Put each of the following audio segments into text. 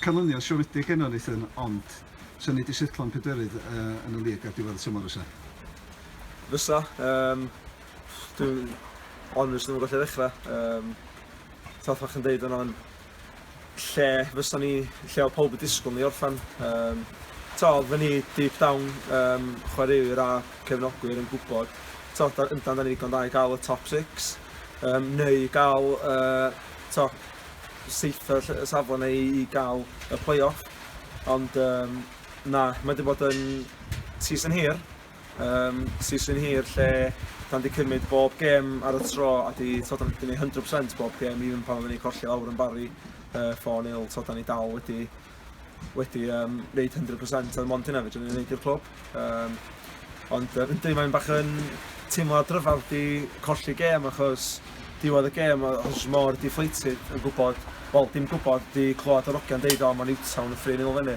canlyniad siomedig enw Nathan, ond sy'n ni wedi setlo'n pedwerydd uh, yn y lig ar diwedd y tymor fysa? Fysa, um, dwi'n honest ddim yn gallu ddechrau. Um, Tath fach yn deud yna, lle fysa ni, lle oedd pawb yn disgwyl ni orffen. Um, to, oedden ni deep down, um, chwaraewyr a cefnogwyr yn gwybod, to, da, yndan da ni ddigon da i gael y top 6, um, neu gael, uh, to, seitha safle neu i gael y play-off. Ond um, na, mae wedi bod yn season hir, Yym, season hir lle dan di cymryd bob gêm ar y tro a di t'od dan di neud 100% bob gêm even pan oedden ni colli lawr yn Barry yy four nil t'od dan ni dal wedi wedi yym neud 100% oedd mond hynna fedrwn ni neud i'r clwb yym ond yy yndi mae'n bach yn teimlad rhyfedd di colli gêm achos diwedd y gêm o- achos mor deflated yn gwybod wel dim gwybod di clywed yr ogia'n deud o ma' Newtown yn three nil fyny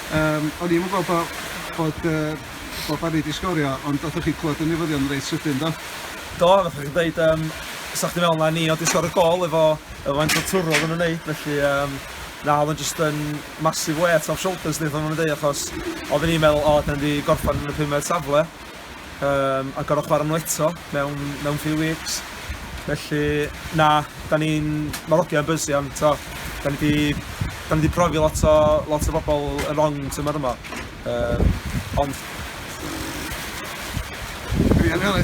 Yym o'n i'm yn gweld bo' bod yy bod Barry 'di sgorio ond nathoch chi clwad y newyddion reit sydyn do? Do nathoch chi ddeud yym 'sa chdi me'wl na ni o'dd 'di sgorio gôl efo efo faint o twrw oddan nw'n neud felly yym na o'dd o'n jyst yn massive weight off shoulders ni fel ma' nw'n deu achos odden ni'n meddwl o 'dan ni 'di gorffan yn y pumed safle um, a gorau chwarae nhw eto mewn, mewn few weeks. Felly, na, da ni'n... Mae'r ogiau'n bysi am, to, da ni wedi da ni wedi profi lot o, lot o bobl yn wrong tymor yma. Um, ond... Dwi yn hynny,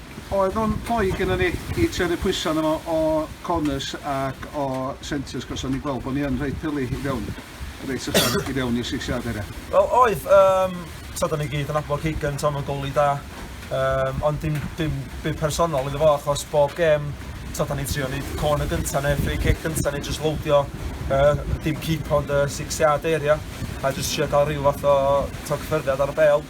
Oedd o'n rhoi gynnon ni i tynnu pwysa arno fo o corners ac o centres cos o'n ni'n gweld bo ni yn rhoi pylu i fewn reit uchel i fewn i'r six yard area. Wel oedd yym t'od da ni gyd yn nabod Keegan t'o' ma'n goalie da yym ond dim dim byd personol iddo fo achos bob gêm t'od da ni'n trio neud corner gynta ne' free kick gynta neu jyst lowdio yy dim cipo ond y six yard area a jyst trio ca'l ryw fath o t'o' cyffyrddiad ar y bêl.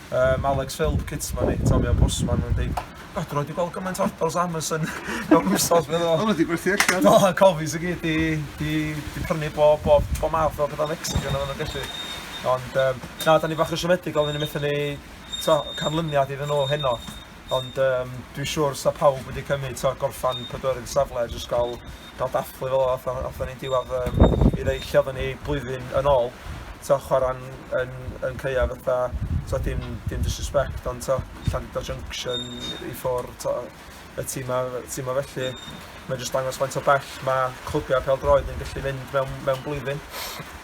Yym Alex Philp cit ma ni, Tommy Ombudsman yn deud God dwi 'rioed 'di gweld gymaint o orders o Amazon mewn wsos meddwl o. O ma di gwerthu allan. Do y cofis i gyd di di di prynu bo bob bob math o petha Mexican odda nw'n gallu ond yym na da ni bach yn siomedig odda ni methu neu t'o canlyniad iddyn nw heno. Ond yym dwi siwr sa pawb wedi cymyd t'o' gorffan pedwerydd y safle a jyst ga'l ga'l dathlu fel ath a- athon ni diwadd yym i ddeu lle oddan ni blwyddyn yn ôl t'o' chwara'n yn yn caeau fatha t'o' dim dim disrespect ond t'o' Llandudno Junction i ffwr' t'o' y tima y tima felly mae'n jyst dangos faint o bell ma' clybiau pêl-droed yn gallu mynd mewn mewn blwyddyn.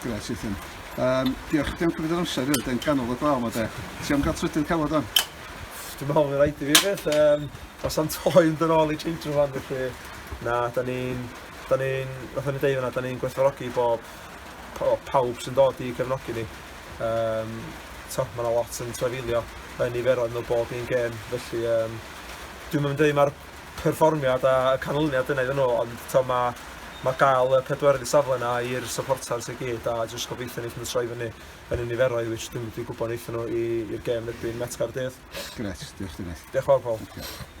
Grêt Ethan. Yym diolch diolch am cymryd yr amser i ddod i'n ganol y glaw 'ma 'de. Ti am ga'l trydydd cafod ŵan? Dwi'n meddwl fydd rhaid i fi beth, um, os am toi yn dod ôl i change room fan felly, na, da ni'n, da ni'n, nath o'n i deud yna, da ni'n gwerthfawrogi bob, pawb sy'n dod i cefnogi ni. Um, so, mae yna lot yn trefilio yn niferoedd nhw bob un gêm, felly um, dwi'n mynd dweud mae'r perfformiad a y canlyniad yna iddyn nhw, ond to, mae ma gael y pedwerydd safle yna i'r supporters i gyd a jyst gobeithio ni allan troi fyny yn y niferoedd which dwi'n dwi gwybod wnaethon nhw i, i'r gêm erbyn Met Caerdydd. Gret, diolch chdi Diolch yn fawr Paul. Okay.